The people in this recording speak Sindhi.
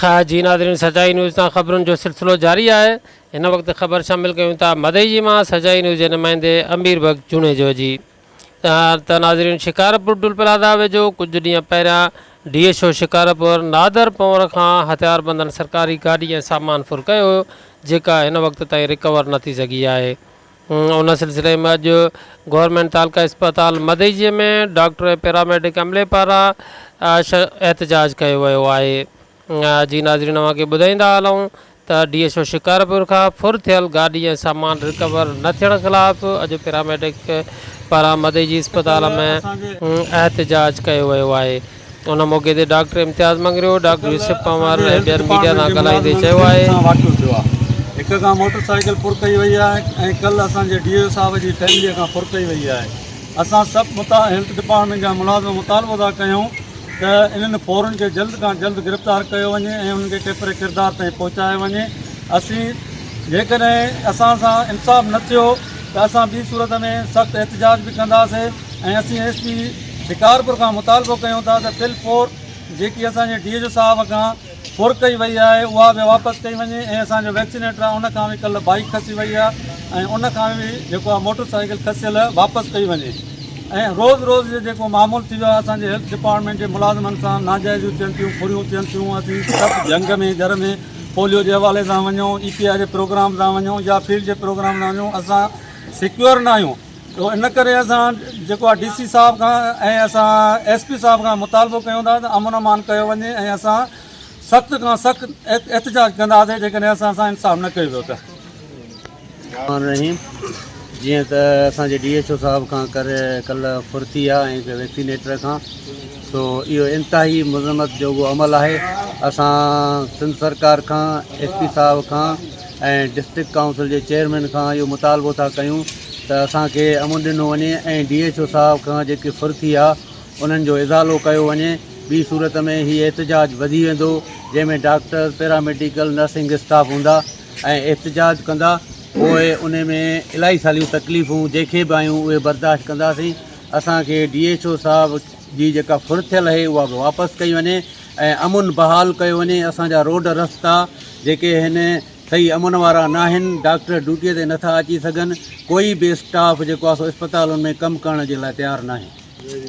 خير جي ناظرين سچائي نيوز تان خبرن جو سلسلو جاري آهي هن وقت خبر شامل ڪيون ٿا مدئجي مان سچائي نيوز جي نمائندي امير بخش جوڻيجو جي ته ناظرين شڪارپور ٽول پلازا ويجهو ڪجهه ڏينهن پهريان D S O Shikarpur Nadir Panhwar کان هٿيار بندن سرڪاري گاڏي ۽ سامان ڦر ڪيو هيو جيڪا هن وقت تائين رڪور نه ٿي سگهي آهي ان سلسلي ۾ اڄ گورنمينٽ تعلقه اسپتال مدئجي ۾ ڊاڪٽر ۽ پيراميڊڪ عملي پاران احتجاج ڪيو ويو آهي جي ناظرين اوهان کي ٻڌائيندا هلون ته ڊي ايس او شڪارپور کان ڦر ٿيل گاڏي ۽ سامان رڪور نه ٿيڻ خلاف اڄ پيراميڊڪ پاران مدئجي اسپتال ۾ احتجاج ڪيو ويو آهي ان موقعي تي ڊاڪٽر امتياز مڱريو، ڊاڪٽر يوسف پنهور ۽ ٻين ميڊيا سان ڳالهائيندي چيو آهي. هڪ کان موٽر سائيڪل ڦر ڪئي وئي آهي ۽ ڪل اسان جي ڊي او صاحب جي فيملي کان ڦر ڪئي وئي آهي اسان سڀ هيلٿ ڊپارٽمينٽ جا ملازم مطالبو ٿا ڪيون ته انهن ڦورن کي جلد کان جلد گرفتار ڪيو وڃي ۽ انهن کي ڪيتري ڪردار تائين پهچايو وڃي اسين جيڪڏهن اسان سان انصاف نه ٿيو ته اسان ٻي صورت ۾ سخت احتجاج به ڪنداسين ۽ اسين ايس پي شڪارپور کان مطالبو ڪيون ٿا ته تل پور جيڪي اسان جي ڊي ايچ او صاحب کان ڦر ڪئي وئي آهي اها به واپس ڪئي وڃي ۽ اسان جو ويڪسينيٽر آهي ان کان به ڪلهه بائيڪ کسي وئي آهي ۽ ان کان به جيڪو آهي موٽر سائيڪل کسيل واپس ڪئي وڃي ۽ روز روز جو جيڪو معمول ٿي ويو آهي اسان جي هيلٿ ڊپارٽمينٽ جي ملازمن سان ناجائزيون ٿين ٿيون ڦريون ٿين ٿيون اسين سڀ جهنگ ۾ جر ۾ پوليو جي حوالي سان وڃون اي پي آء جي پروگرام سان وڃون يا فيلڊ جي پروگرام سان وڃون اسان سيڪيور ناهيون تو ان ڪري اسان جيڪو آهي ڊي سي صاحب کان ۽ اسان ايس پي صاحب کان مطالبو ڪيون ٿا ته امن امان ڪيو وڃي ۽ اسان سخت کان سخت احتجاج ڪنداسين جيڪڏهن اسان سان انصاف نه ڪيو ويو ته. الرحمٰن الرحيم جيئن ته اسان جي ڊي ايڇ او صاحب کان ڪر ڪل ڦرتي آ ۽ هڪ ويڪسينيٽر کان سو اهو انتهائي مذمت جوڳو عمل آهي اسان سنڌ سرڪار کان ايس پي صاحب کان ۽ ڊسٽرڪٽ ڪائونسل جي چيئرمين کان اهو مطالبو ٿا ڪيون ته اسان کي امن ڏنو وڃي ۽ ڊي ايڇ او صاحب کان جيڪي ڦر ٿي آ انهن جو ازالو ڪيو وڃي ٻي صورت ۾ هي احتجاج وڌي ويندو جنهن ۾ ڊاڪٽر پيراميڊيڪل نرسنگ اسٽاف هوندا ۽ احتجاج ڪندا پوء ان ۾ الائي ساليون تڪليفون جيڪي به آيون اهي برداشت ڪنداسين اسان کي ڊي ايڇ او صاحب جي جيڪا ڦر ٿيل اهي اها به واپس ڪئي وڃي ۽ امن بحال ڪيو وڃي اسان جا روڊ رستا جيڪي هن صحيح امن وارا ناهن ڊاڪٽر ڊيوٽي تي نٿا اچي سگهن ڪوئي به اسٽاف جيڪو آسو اسپتالن ۾ ڪم ڪرڻ جي لاء تيار ناهي.